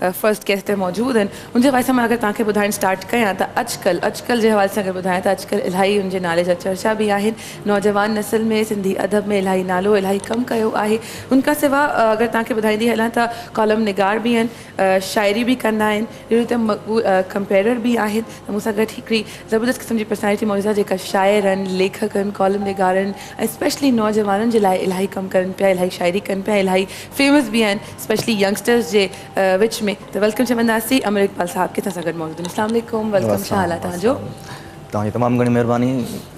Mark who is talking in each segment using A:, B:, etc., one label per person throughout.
A: First guest ته موجود آهن ان جي حوالي سان مان اگر توهان کي ٻڌائڻ اسٽارٽ ڪيان ته اڄڪلهه اڄڪلهه جي حوالي سان اگر ٻڌايان ته اڄڪلهه الاهي ان جي نالي جا چرچا به آهن نوجوان نسل ۾ سنڌي ادب ۾ الاهي نالو الاهي ڪم ڪيو آهي ان کان سوا اگر توهان کي ٻڌائيندي هلان ته ڪالم نگار به آهن شاعري به ڪندا آهن اهڙي ريت مقبول ڪمپيئرر به آهن ته مون سان گڏ هڪڙي زبردست قسم جي پرسنالٽي موجود آهي جيڪا شاعرن ليکڪن ڪالم نگارن ۽ اسپيشلي نوجوانن جي لاء الاهي ڪم ڪرن پيا الاهي شاعري ڪن پيا الاهي فيمس به آهن اسپيشلي ينگسٽرس جي وچ ۾ ته ويلڪم چونداسين امير اقبال صاحب ڪٿان سان گڏ موجود آهن اسلام عليڪم ويلڪم ڇا حال آهي تهان جو. توهان جي تمام
B: گهڻي مهرباني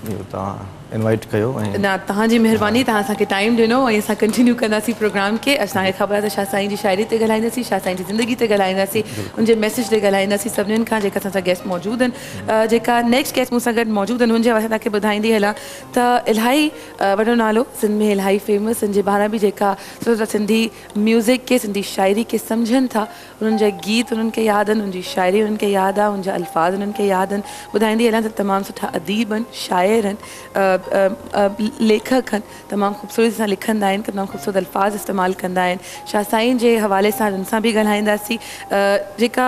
B: جو توهان انوائيٽ ڪيو ۽. نه توهان جي
A: مهرباني توهان اسان کي ٽائيم ڏنو ۽ اسان ڪنٽينيو ڪنداسين پروگرام کي اسان کي خبر آهي ته شاهه سائين جي شاعري تي ڳالهائينداسين شاهه سائين جي زندگي تي ڳالهائينداسين ان جي ميسيج تي ڳالهائينداسين سڀنن کان جيڪا اسان سان گيسٽ موجود آهن جيڪا نيڪسٽ گيسٽ مون سان گڏ موجود آهن هن جي حوالي سان توهان کي ٻڌائيندي هلان ته الاهي وڏو نالو سنڌ ۾ الاهي فيمس ان جي ٻاهران به جيڪا ڏسو ته سنڌي ميوزڪ کي سنڌي شاعري کي سمجهن ٿا انهن جا گيت انهن کي ياد آهن انهن جي شاعري انهن کي ياد آهي انهن جا الفاظ انهن کي ياد آهن ٻڌائيندي هلان ته تمام سٺا اديب آهن شاعر آهن ليکڪ آهن تمام خوبصورتي سان لکندا آهن تمام خوبصورت الفاظ استعمال ڪندا آهن شاهه سائين جي حوالي سان انهن سان به ڳالهائينداسين جيڪا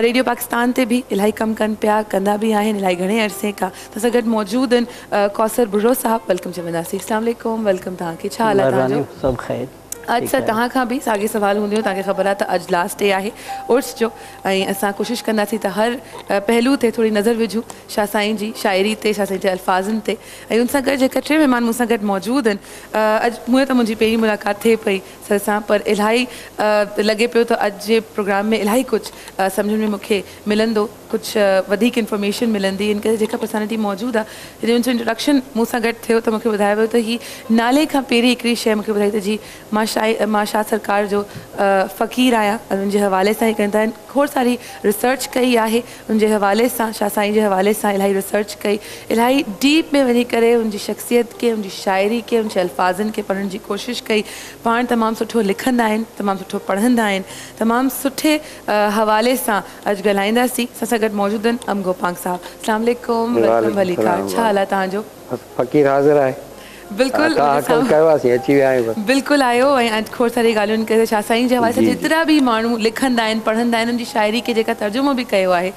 A: ريڊيو پاڪستان تي به الاهي ڪم ڪن پيا ڪندا به آهن الاهي گهڻي عرصي کان اسان سان گڏ موجود آهن ڪوثر ڀرڙو صاحب ويلڪم چونداسين. اسلام عليڪم ويلڪم توهان کي ڇا حال آهي توهان جو. مھرباني سڀ خير.
C: اڄ سر توهان کان
A: به ساڳي سوال هونديون توهان کي خبر آهي ته اڄ لاسٽ ڊي آهي عرس جو ۽ اسان ڪوشش ڪنداسين ته هر پهلو تي ٿوري نظر وجهون شاھ سائين جي شاعري تي شاھ سائين جي الفاظن تي ۽ ان سان گڏ جيڪا ٽي مهمان مون سان گڏ موجود آهن اڄ هونئن ته منهنجي پهرين ملاقات ٿئي پئي سر سان پر الاهي لڳي پيو ته اڄ جي پروگرام ۾ الاهي ڪجھ سمجهڻ ۾ مون کي ملندو. ڪجهه وڌيڪ انفارميشن ملندي ان ڪري جيڪب پسانيٽي موجود آ جڏهن ان جو انٽروڊڪشن مون سان گڏ ٿيو ته مونکي ٻڌايو ويو ته هي نالي کان پهرين هڪڙي شئي مونکي ٻڌائي ته جي مان شاهي مان شاهه سرڪار جو فقير آهيان ان جي حوالي سان هي ڪن ٿا کوڙ ساري ريسرچ ڪئي آهي ان جي حوالي سان شاهه سائين جي حوالي سان الاهي ريسرچ ڪئي الاهي ڊيپ ۾ وڃي ڪري ان جي شخصيت کي ان جي شاعري کي ان جي الفاظن کي پڙهڻ جي ڪوشش ڪئي پاڻ تمام سٺو لکندا آهن تمام سٺو پڙهندا آهن تمام سٺي حوالي سان اڄ ڳالهائيندا سين اسان سان گڏ موجود آهن ام گوپانگ صاحب اسلام عليڪم ويلڪم وعليڪم ڀليڪار سلام ڇا حال آهي وعليڪم توهان جو. بس فقير حاضر
C: آهي بلڪل
A: ادا منهنجي حاڪم سامهون ڪيواسين اچي ويا آهيون بس بلڪل آيو ۽ اڄ کوڙ ساري ڳالهيون ڪيون ته شاهه سائين جي حوالي سان جي جي جيترا به ماڻهو لکندا آهن پڙهندا آهن ان جي شاعري کي جيڪا ترجمو به ڪيو آهي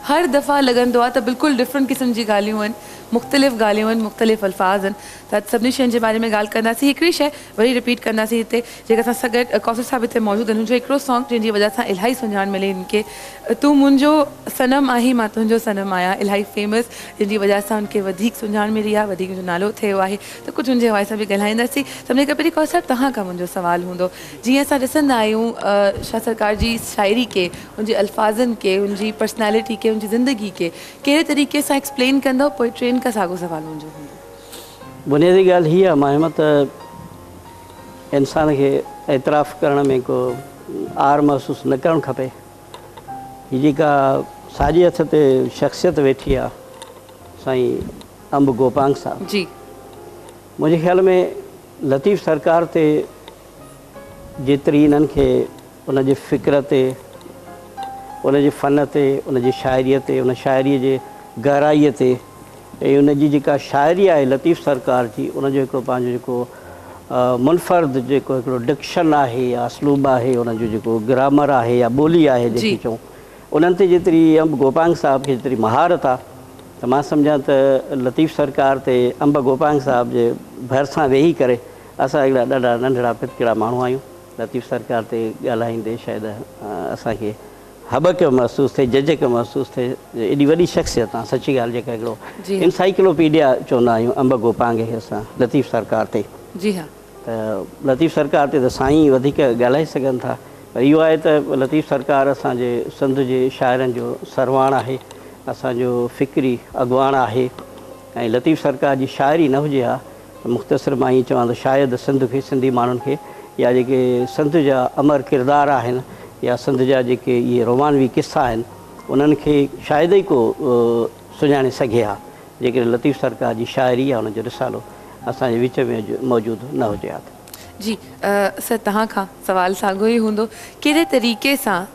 A: هر دفعا لڳندو آهي ته بلڪل ڊفرنٽ قسم جي ڳالهيون آهن مختلف ڳالهيون آهن مختلف الفاظ آهن ته اڄ سڀني شين جي باري ۾ ڳالهه ڪنداسين هڪڙي شيء وري رپيٽ ڪنداسين هتي جيڪي اسان سان گڏ قوصر صاحب هتي موجود آهن هن جو هڪڙو سانگ جنهن جي وجه سان الاهي سڃاڻ ملي هن کي تون منهنجو صنم آهين مان تنهنجو صنم آهيان الاهي فيمس جنهن جي وجه سان هن کي وڌيڪ سڃاڻ ملي آهي وڌيڪ هن جو نالو ٿيو آهي ته ڪجهه هن جي حوالي سان به ڳالهائينداسين سڀني کان پهرين قوصر صاحب توهان کان منهنجو سوال هوندو جيئن اسان ڏسندا آهيون شاهه سرڪار جي شاعري کي هن جي الفاظن کي هن جي پرسنالٽي کي هن جي زندگي کي ڪهڙي طريقي سان ايڪسپلين ڪندو پوء ٽين کان ساڳو سوال منهنجو هوندو. بنيادي
C: ڳالهه هيء آهي ماهيم ته انسان کي اعتراف ڪرڻ ۾ ڪو عار محسوس نه ڪرڻ کپي. هي جيڪا ساڄي هٿ تي شخصيت ويٺي آهي سائين انب گوپانگ صاحب. جي.
A: منهنجي
C: خيال ۾ لطيف سرڪار تي جيتري انهن کي ان جي فڪر تي، ان جي فن تي، ان جي شاعريء تي، ان شاعريء جي گهرائيء تي ۽ ان جي جيڪا شاعري آهي لطيف سرڪار جي، ان جو هڪڙو پنهنجو جيڪو منفرد جيڪو هڪڙو ڊڪشن آهي يا اسلوب آهي، ان جو جيڪو گرامر آهي يا ٻولي آهي جنهن کي چئون، انهن تي جيتري انب گوپانگ صاحب کي جيتري مهارت آ ته مان سمجهان ته لطيف سرڪار تي انب گوپانگ صاحب جي ڀرسان ويهي ڪري اسان هڪڙا ڏاڍا ننڍڙا پتڪڙا ماڻهو آهيون. لطيف سرڪار تي ڳالهائيندي شايد اسان کي هٻڪ محسوس ٿئي، جهجڪ محسوس ٿئي جو ايڏي وڏي شخصيت آ سچي ڳالهه جيڪا هڪڙو جي ها. انسائيڪلوپيڊيا چوندا آهيون انب گو پانگهي اسان لطيف سرڪار تي جي ها. ته
A: لطيف
C: سرڪار تي ته سائين ئي وڌيڪ ڳالهائي سگهن ٿا پر اهو آهي ته لطيف سرڪار اسان جي سنڌ جي شاعرن جو سرواڻ آهي، اسان جو فڪري اڳواڻ آهي ۽ لطيف سرڪار جي شاعري نه هجي ها مختصر مان ائين چوان ته شايد سنڌ کي سنڌي ماڻهن کي يا جيڪي سنڌ جا امر ڪردار آهن يا سنڌ جا جيڪي اهي رومانوي قصا آهن انهن کي شايد ئي ڪو سڃاڻي سگهي ها جيڪڏهن لطيف سرڪار جي شاعري يا ان جو رسالو اسان جي وچ ۾ موجود نه هجي ها ته. جي
A: سر توهان کان سوال ساڳيو ئي هوندو ڪهڙي طريقي سان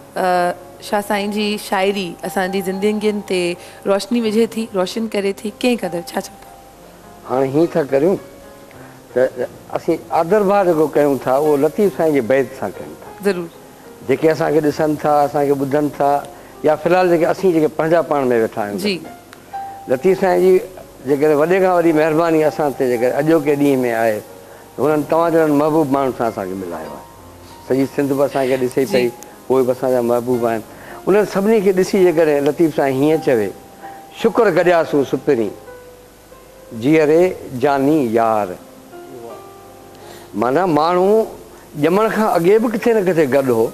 A: شاهه سائين جي شاعري اسان جي زندگين تي روشني وجهي ٿي روشن ڪري ٿي ڪئين قدر ڇا چئو ٿا؟ هاڻي هيئن
D: ٿا ڪريون ته اسين آدرڀاء جيڪو ڪيون ٿا اهو لطيف سائين جي بيت سان ڪيون ٿا. ضرور. جيڪي
A: اسان کي
D: ڏسن ٿا، اسان کي ٻڌن ٿا يا في الحال جيڪي اسين جيڪي پنهنجا پاڻ ۾ ويٺا آهيون گهر ۾
A: لطيف سائين
D: جي جيڪڏهن وڏي کان وڏي مهرباني اسان تي جيڪڏهن اڄوڪي ڏينهن ۾ آهي ته هنن توهان جهڙن محبوب ماڻهن سان اسان کي ملايو آهي. سڄي سنڌ به اسان کي ڏسي پئي، اهي به اسان جا محبوب آهن. انهن سڀني کي ڏسي جيڪڏهن لطيف سائين هيئن چوي، شڪر گڏياسون سپرين. جيئري جاني يار. معنيٰ ماڻهو ڄمڻ کان اڳي به ڪٿي نه ڪٿي گڏ هو.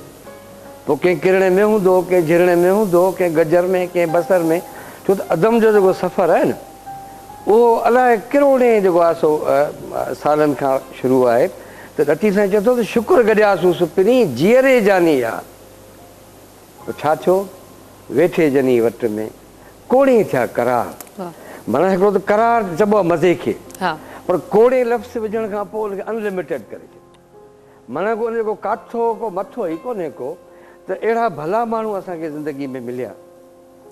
D: پوء ڪنهن ڪرڻي ۾ هوندو هو، ڪنهن جهرڻي ۾ هوندو هو، ڪنهن گجر ۾، ڪنهن بصر ۾. ڇو ته عدم جو جيڪو سفر آهي نه، اهو الائي ڪروڙين جيڪو آهي سو سالن کان شروع آهي. ته لطيف سائين چئي ٿو ته شڪر گڏياسون سپرين، جيئري جاني يار. ته ڇا ٿيو ويٺي جني وٽ ۾ ڪوڙين ٿيا قرار معنيٰ هڪڙو ته قرار چئبو آهي مزي کي پر ڪوڙين لفظ وجهڻ کان پوء ان کي ان لميٽيڊ ڪري ڇڏيو معنيٰ گو ان جو ڪو ڪاٿو ڪو مٿو ئي ڪونهي ڪو ته اهڙا ڀلا ماڻهو اسان کي زندگي ۾ مليا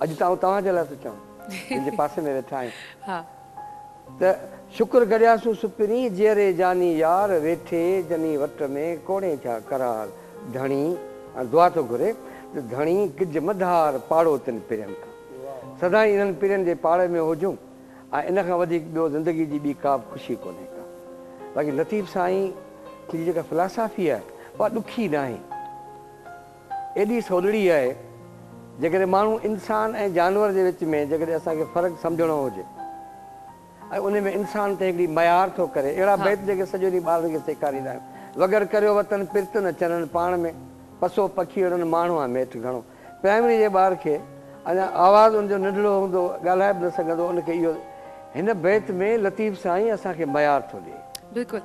D: اڄ ته آئون توهان جي لاء ٿو چوان جن جي پاسي ۾ ويٺا آهيون. ته شڪر گهڙياسون سپري، جيئري جاني يار، ويٺي جني وٽ ۾، ڪوڙين ٿيا قرار، ڌڻي ۽ دعا ٿو گهري، ته ڌڻي ڪج مدهار، پاڙو تن پرين کان، سدائين انهن پرين جي پاڙي ۾ هجون، ۽ ان کان وڌيڪ ٻيو زندگي جي ٻي ڪابه خوشي ڪونهي ڪا، باقي لطيف سائين جي جيڪا فلاسافي آهي، اها ڏکي ناهي. ايڏي سولڙي آهي، جيڪڏهن ماڻهو، انسان ۽ جانور جي وچ ۾ جيڪڏهن اسان کي فرق سمجهڻو هجي ۽ ان ۾ انسان تنهن هڪڙي ميار ٿو ڪري، اهڙا بيت جيڪي سڄو ڏينهن ٻارن کي سيکاريندا آهيون، وڳر ڪريو وطن پرت نه چرن پاڻ ۾، پسو پکيئڙن ماڻهو آ ميٺ گهڻو. پرائمري جي ٻار کي اڃا آواز ان جو ننڍڙو هوندو، ڳالهائي به نه سگهندو، ان کي اهو هن بيت ۾ لطيف سائين اسان کي ميار ٿو ڏئي. بلڪل.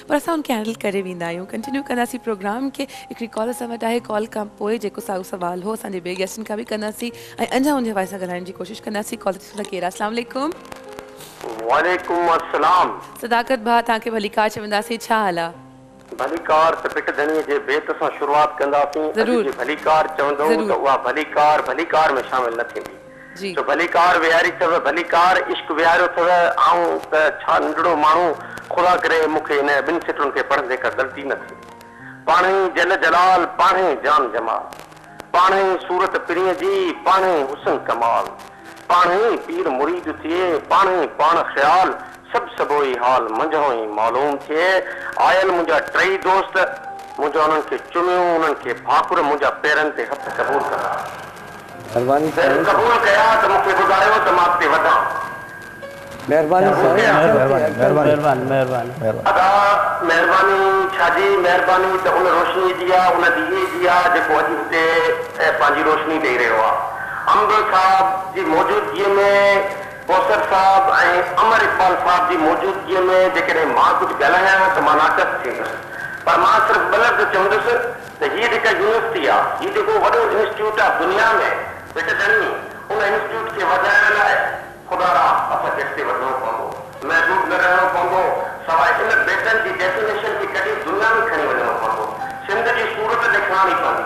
A: پر اسان ان کي هينڊل ڪري ويندا آهيون ڪنٽينيو ڪنداسين پروگرام کي هڪڙي ڪال اسان وٽ آهي ڪال کان پوء جيڪو ساڳيو سوال هو اسان جي ٻئي گيسٽن کان به ڪنداسين ۽ انجا انجي حوالي سان ڳالهائڻ جي ڪوشش ڪنداسين ڪال تي ڏسون ٿا ڪير آهي السلام عليڪم.
E: وعليڪم السلام. صداقت ڀاء توهان
A: کي ڀليڪار چونداسين ڇا حال آ. ڀليڪار ته ڀٽ
E: ڌڻي جي بيت سان شروعات ڪنداسين اڄ ضرور جي ڀليڪار
A: چوندؤ ته
E: ضرور. اها ڀليڪار ڀليڪار ۾ شامل نه ٿيندي. جي. جو ڀلي ڪار
A: ويهاري
E: اٿئو، ڀلي ڪار عشق ويهاريو اٿئو، آئون ته ڇا ننڍڙو ماڻهو، خدا ڪري مون کي هن ٻن سٽرن کي پڙهندي ڪا غلطي نه ٿئي. پاڻهي ئي جل جلال، پاڻهي جان جمال، پاڻهي ئي صورت پرينء جي، پاڻهي حسن ڪمال، پاڻهي ئي پير مريد ٿئي، پاڻهي پاڻ خيال، سڀ سڀوئي حال منجهانئن ئي معلوم ٿئي. آيل منهنجا ٽئي دوست، منهنجا انهن کي چميون، انهن کي ڀاڪر، منهنجا پيرن تي هٿ قبول ڪندا. مهرباني
D: سائين جن قبول ڪيا
E: ته مون کي ٻڌايو ته مان اڳتي وڌان. مهرباني سائين اچڻ تي اڳتن تي. ادا مهرباني ڇا جي مهرباني ته ان روشني جي آ ان ڏيئي جي آ جيڪو اڄ هتي پنهنجي روشني ڏئي رهيو آ. انب صاحب جي موجودگيء ۾ ڪوثر صاحب ۽ امر اقبال صاحب جي موجودگيء ۾ جيڪڏهن مان ڪجهه ڳالهايان ته مان ناقص ٿيندس، پر مان صرف ٻه لفظ چوندس ته هيء جيڪا يونيورسٽي آ، هي جيڪو وڏو انسٽيٽيوٽ آ دنيا ۾ هڪ ڄڻي ان انسٽيٽيوٽ کي وڌائڻ لاء خدا را اسان کي اڳتي وڌڻو پوندو، محدود نه رهڻو پوندو، سواء ان بيٽن جي ڊيفينيشن کي ڪڍي دنيا ۾ کڻي وڃڻو پوندو، سنڌ جي صورت ڏيکارڻي پوندي.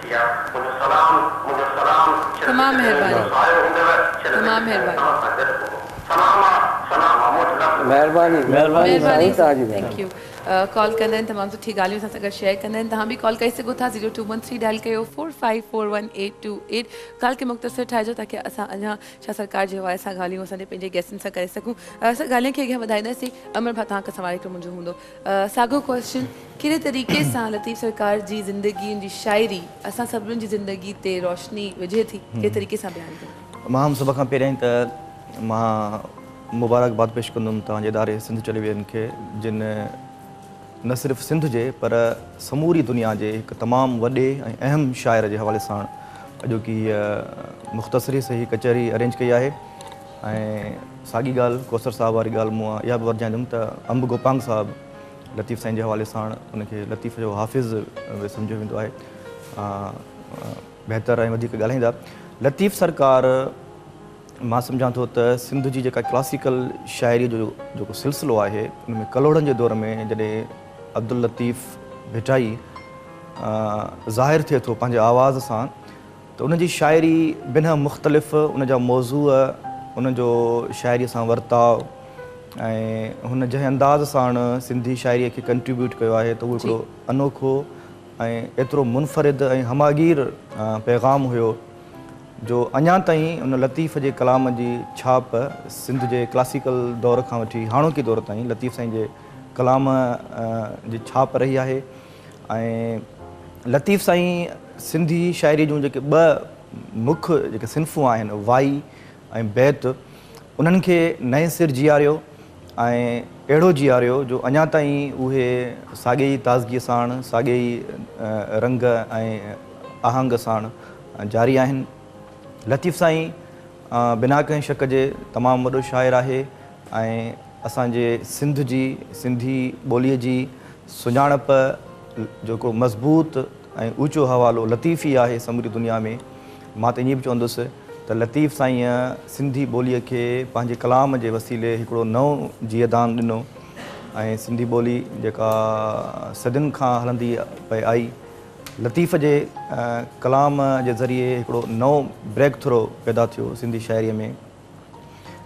E: يا منهنجو
A: سلام، منهنجو سلام، شل تمام وچ زمين جو مھرباني سايو هوندو، شل
D: وچ تمام زمين مھرباني. توهان سان گڏ هوندو.
A: سلام آ، سلام آ، مون وٽ لفظ ناهن. مھرباني مھرباني
D: مھرباني سائين سر
A: توھانجي ٿينڪ مھرباني. يو ڪال ڪندا آھن تمام سٺي ڳالهيون اسان سان گڏ شيئر ڪندا آھن توھان به ڪال ڪري سگهو ٿا zero two one three dial ڪيو four five four one eight two eight ڳالهه کي مختصر ٺاهجو تاڪي اسان اڃا شاھ سرڪار جي حوالي سان ڳالهيون اسان جي پنهنجي گيسٽن سان ڪري سگهون اسان ڳالهين کي اڳيان وڌائينداسين امر ڀا توھان کان سوال هڪڙو منهنجو هوندو ساڳيو ڪوئسچن ڪهڙي طريقي سان لطيف سرڪار جي زندگي ان جي شاعري اسان سڀنن جي زندگي تي روشني وجهي ٿي ڪهڙي طريقي سان بيان ڪندا. ماهم سڀ کان پهريائين ته
B: مان مبارڪباد پيش ڪندم توهان جي اداري سنڌ ٽيليويزن کي جن نه صرف سنڌ جي پر سموري دنيا جي هڪ تمام وڏي ۽ اهم شاعر جي حوالي ساڻ اڄوڪي هيء مختصر ئي سهي ڪچهري ارينج ڪئي آهي ۽ ساڳي ڳالهه ڪوثر صاحب واري ڳالهه مون اها به ورجائيندم ته انب گوپانگ صاحب لطيف سائين جي حوالي ساڻ ان کي لطيف جو حافظ به سمجهيو ويندو آهي بهتر ۽ وڌيڪ ڳالهائيندا لطيف سرڪار مان سمجهان ٿو ته سنڌ جي جيڪا ڪلاسيڪل شاعري جو جيڪو سلسلو آهي ان ۾ ڪلهوڙن جي دور ۾ جڏهن عبداللطيف ڀٽائي ظاهر ٿئي ٿو پنهنجي آواز سان ته ان جي شاعري بنهه مختلف، ان جا موضوع، ان جو شاعريء سان ورتاء ۽ هن جنهن انداز ساڻ سنڌي شاعريء کي ڪنٽريبيوٽ ڪيو آهي ته اهو هڪڙو انوکو ۽ ايترو منفرد ۽ همهگير پيغام هيو جو اڃا تائين ان لطيف جي ڪلام جي ڇاپ سنڌ جي ڪلاسيڪل دور کان وٺي هاڻوڪي دور تائين لطيف سائين جي ڪلام جي ڇاپ رهي آهي. ۽ لطيف سائين سنڌي شاعري جون جيڪي ٻه مک جيڪي صنفون آهن وائي ۽ بيت انهن کي نئين سر جياريو ۽ اهڙو جياريو جو اڃا تائين اهي ساڳي ئي تازگيء ساڻ ساڳي ئي رنگ ۽ آهنگ ساڻ جاري آهن. لطيف سائين بنا ڪنهن شڪ جي تمام وڏو شاعر آهي. ۽ اسان جي سنڌ جي سنڌي ٻوليء جي سڃاڻپ جو ڪو مضبوط ۽ اوچو حوالو لطيف ئي آهي سموري دنيا ۾. مان ته ائين به چوندس ته لطيف سائينء سنڌي ٻوليء کي پنهنجي ڪلام جي وسيلي هڪڙو نئون جيئدان ڏنو ۽ سنڌي ٻولي جيڪا صدين کان هلندي پئي آئي لطيف جي ڪلام جي ذريعي هڪڙو نئون بريڪ ٿرو پيدا ٿيو سنڌي شاعريء ۾.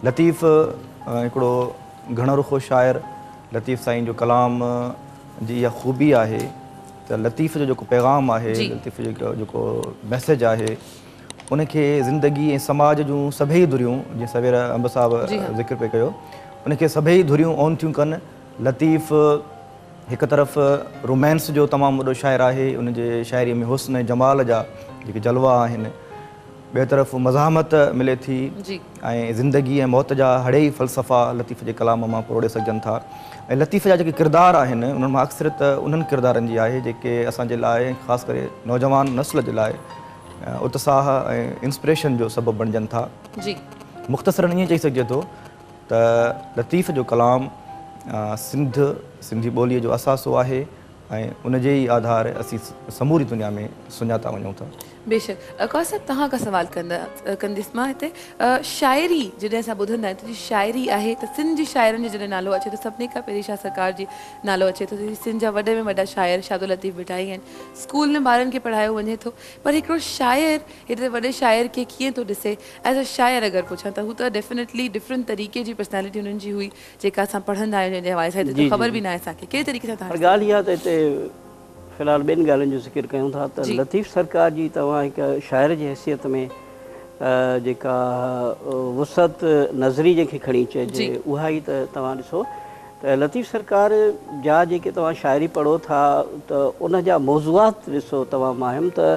B: لطيف هڪڙو گهڻ رخو شاعر، لطيف سائين جو ڪلام جي اها خوبي آهي ته لطيف جو جيڪو پيغام آهي، لطيف جو جيڪو ميسيج آهي، ان کي زندگي ۽ سماج جون سڀئي ڌريون، جيئن سوير انب صاحب ذڪر پئي ڪيو، ان کي سڀئي ڌريون اون ٿيون ڪن. لطيف هڪ طرف رومانس جو تمام وڏو شاعر آهي، ان جي شاعريء ۾ حسن ۽ جمال جا جيڪي جلوا آهن، ٻئي طرف مزاحمت ملي ٿي ۽ زندگي ۽ موت جا هڙئي فلسفا لطيف جي ڪلام مان پروڙي سگهجن ٿا ۽ لطيف جا جيڪي ڪردار آهن انهن مان اڪثريت انهن ڪردارن جي آهي جيڪي اسان جي لاء ۽ خاص ڪري نوجوان نسل جي لاء اتساهه ۽ انسپريشن جو سبب بڻجن ٿا مختصراً ائين چئي سگهجي ٿو ته لطيف جو ڪلام سنڌ سنڌي ٻوليء جو اثاثو آهي. ۽ ان جي ئي آڌار اسين سموري دنيا ۾ سڃاتا وڃون ٿا. بيشڪ. قاضي صاحب توهان کان
A: سوال ڪنديس مان هتي شاعري جڏهن اسان ٻڌندا آهيون ته جي شاعري آهي ته سنڌ جي شاعرن جو جڏهن نالو اچي ٿو سڀني کان پهرين شاهه سرڪار جي نالو اچي ٿو جيڪي سنڌ جا وڏي ۾ وڏا شاعر شاهدالطيف ڀٽائي آهن اسڪول ۾ ٻارن کي پڙهايو وڃي ٿو پر هڪڙو شاعر هيڏي وڏي شاعر کي ڪيئن ٿو ڏسي ايز ا شاعر اگر پڇان ته هو ته ڊيفنيٽلي ڊفرنٽ طريقي جي پرسنالٽي هنن جي هئي جيڪا اسان پڙهندا آهيون جنهن جي حوالي سان هتي ته خبر به ناهي اسان کي ڪهڙي طريقي سان تهان ڏسندا. ڳالهه اها ته هتي
C: في الحال ٻين ڳالهين جو ذڪر ڪيون ٿا ته لطيف سرڪار جي توهان هڪ شاعر جي حيثيت ۾ جيڪا وسعت نظري جنهن کي کڻي چئجي اها ئي ته توهان ڏسو ته لطيف سرڪار جا جيڪي توهان شاعري پڙهو ٿا ته ان جا موضوعات ڏسو توهان ماهم ته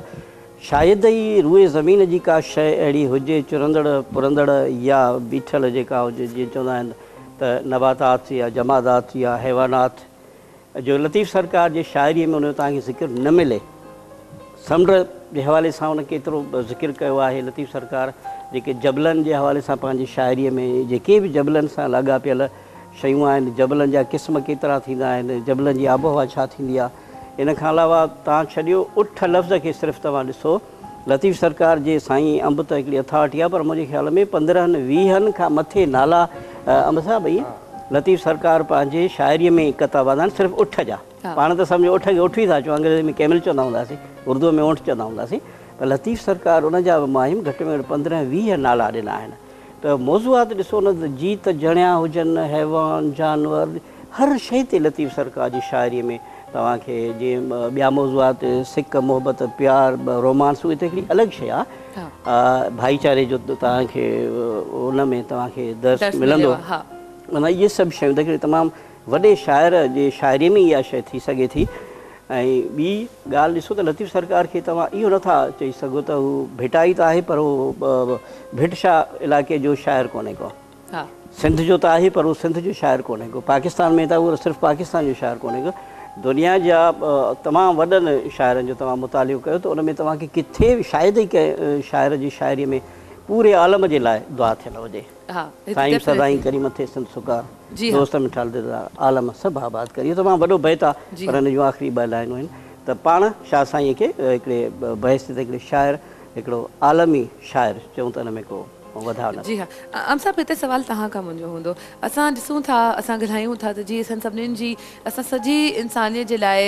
C: شايد ئي روئي زمين جي ڪا شيء اهڙي هجي، چرندڙ، پرندڙ يا بيٺل جيڪا هجي، جيئن چوندا آهن ته نباتات يا جمادات يا حيوانات، جو لطيف سرڪار جي شاعريء ۾ ان جو توهان کي ذڪر نه ملي. سمنڊ جي حوالي سان ان ڪيترو ذڪر ڪيو آهي لطيف سرڪار، جيڪي جبلن جي حوالي سان پنهنجي شاعريء ۾ جيڪي به جبلن سان لاڳاپيل شيون آهن، جبلن جا قسم ڪيترا ٿيندا آهن، جبلن جي آبهوا ڇا ٿيندي آهي، ان کان علاوه توهان ڇڏيو اٺ لفظ کي صرف توهان ڏسو لطيف سرڪار جي سائين انب ته هڪڙي اٿارٽي آهي پر منهنجي خيال ۾ پندرهن ويهن کان مٿي نالا انب صاحب ائين لطيف سرڪار پنهنجي شاعري ۾ قطعا بند آهن صرف اٺ جا پاڻ ته سمجهو اٺ کي اٺ ئي ٿا چون انگريزي ۾ ڪيمل چوندا هونداسين اردوء ۾ اونٺ چوندا هونداسين پر لطيف سرڪار ان جا به ماهيم گهٽ ۾ گهٽ پندرهن ويهه نالا ڏنا آهن. ته موضوعات ڏسو نه ته جيت جڻيا هجن، حيوان، جانور، هر شيء تي لطيف سرڪار جي شاعريء ۾ توهان کي جيئن ٻيا موضوعات سڪ، محبت، پيار، رومانس اهي ته هڪڙي الڳ شيء آ. ڀائيچاري جو توهان کي ان ۾ توهان کي درس ملندو. معنيٰ اهي سڀ شيون ته هڪڙي تمام وڏي شاعر جي شاعريء ۾ اها شيء ٿي سگهي ٿي ۽ ٻي ڳالهه ڏسو ته لطيف سرڪار کي توهان اهو نه ٿا چئي سگهو ته هو ڀٽائي ته آهي پر هو ڀٽ شاهه علائقي جو شاعر ڪونهي ڪو. سنڌ جو ته آهي پر هو سنڌ جو شاعر ڪونهي ڪو. پاڪستان ۾ ته آهي پر صرف پاڪستان جو شاعر ڪونهي ڪو. دنيا جا تمام وڏن شاعرن جو توهان مطالعو ڪيو ته ان ۾ توهان کي ڪٿي به شايد ئي ڪنهن شاعر جي شاعريء ۾ پوري عالم جي لاء دعا ٿيل هجي. سائين سدائين ڪريم ٿئي سنڌ سگا دوست مٺال دلدار عالم سڀ آباد ڪر اهو تمام وڏو بيت آ پر ان جون آخري ٻه لائنون آهن ته پاڻ شاهه سائينء کي هڪڙي بحيثيت هڪڙي شاعر هڪڙو عالمي شاعر چئون ته ان ۾ ڪو وڌاء نه جي ها عام
A: صاحب هتي سوال توهان کان منهنجو هوندو اسان ڏسون ٿا اسان ڳالهايون ٿا ته جي اسان سڀنين جي اسان سڄي انسانيت جي لاء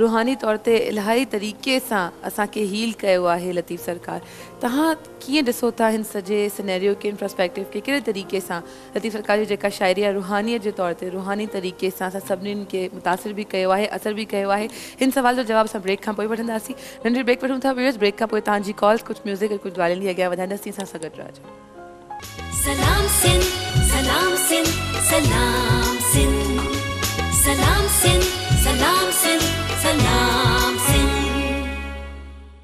A: روحاني طور تي الاهي طريقي سان اسان کي هيل ڪيو آهي لطيف سرڪار توهان ڪيئن ڏسو ٿا هن سڄي سينيريو کي، هن پراسپيڪٽو کي ڪهڙي طريقي سان؟ لطيف القادر جي جيڪا شاعري آهي روحانيت جي طور تي روحاني طريقي سان اسان سڀني کي متاثر به ڪيو آهي اثر به ڪيو آهي هن سوال جو جواب اسان بريڪ کان پوء وٺنداسين ننڍڙي بريڪ وٺون ٿا ويورز بريڪ کان پوء توهان جي ڪالز ڪجهه ميوزڪ ۽ ڪجهه ڳالهين لي اڳيان وڌائينداسين اسان سان گڏ رهجو.